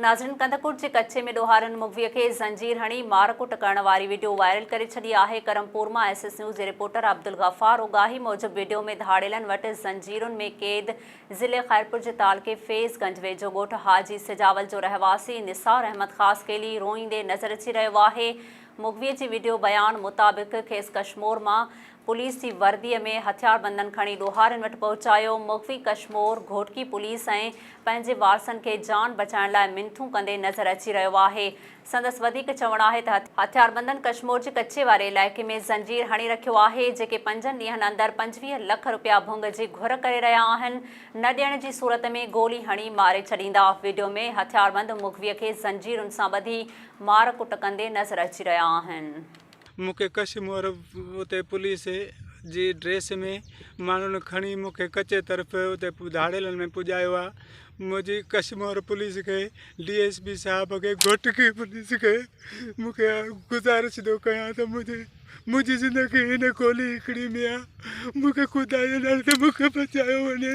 ناظرين ڪنڌڪوٽ جي ڪچي ۾ ڏوهارين مغوي کي زنجير هڻي مار ڪٽ ڪرڻ واري وڊيو وائرل ڪري ڇڏي آهي ڪرمپور مان ايس ايس نيوز جي رپورٽر عبدالغفار اوڳاهي موجب وڊيو ۾ ڌاڙيلن وٽ زنجيرن ۾ قيد ضلعي خيرپور جي تعلقي فيض گنج ويجهو ڳوٺ حاجي سجاول جو رهواسي نثار احمد خاصخيلي روئيندي نظر اچي رهيو آهي مغوي جي وڊيو بيان مطابق کيس ڪشمور مان پوليس جي ورديء ۾ هٿياربندن کڻي ڏوهارين وٽ پهچايو، مغوي ڪشمور گهوٽڪي پوليس ۽ پنهنجي وارثن کي جان بچائڻ لاء منٿون ڪندي نظر اچي رهيو آهي. سندس وڌيڪ چوڻ آهي ته هٿياربندن ڪشمور جي ڪچي واري علائقي ۾ زنجير هڻي رکيو آهي، جيڪي پنجن ڏينهن اندر پنجويهه لک رپيا ڀنگ جي گهر ڪري رهيا آهن، نه ڏيڻ جي صورت ۾ گولي هڻي ماري ڇڏيندا، وڊيو ۾ هٿياربند مغوي کي زنجيرن سان ٻڌي مار ڪٽ ڪندي نظر اچي رهيا آهن. مون کي ڪشي مور اتي پوليس جي ڊريس ۾ ماڻهن کڻي مون کي ڪچي طرف اتي ڌاڙيلن ۾ پڄايو آ منهنجي ڪشي مور پوليس کي ڊي ايس پي صاحب کي گهٽ کي پوليس کي مون کي گذارش ٿو ڪيان ته منهنجي منهنجي زندگي هن گولي هڪڙي ۾ آ مون کي خدائي نالي سان مون کي بچايو وڃي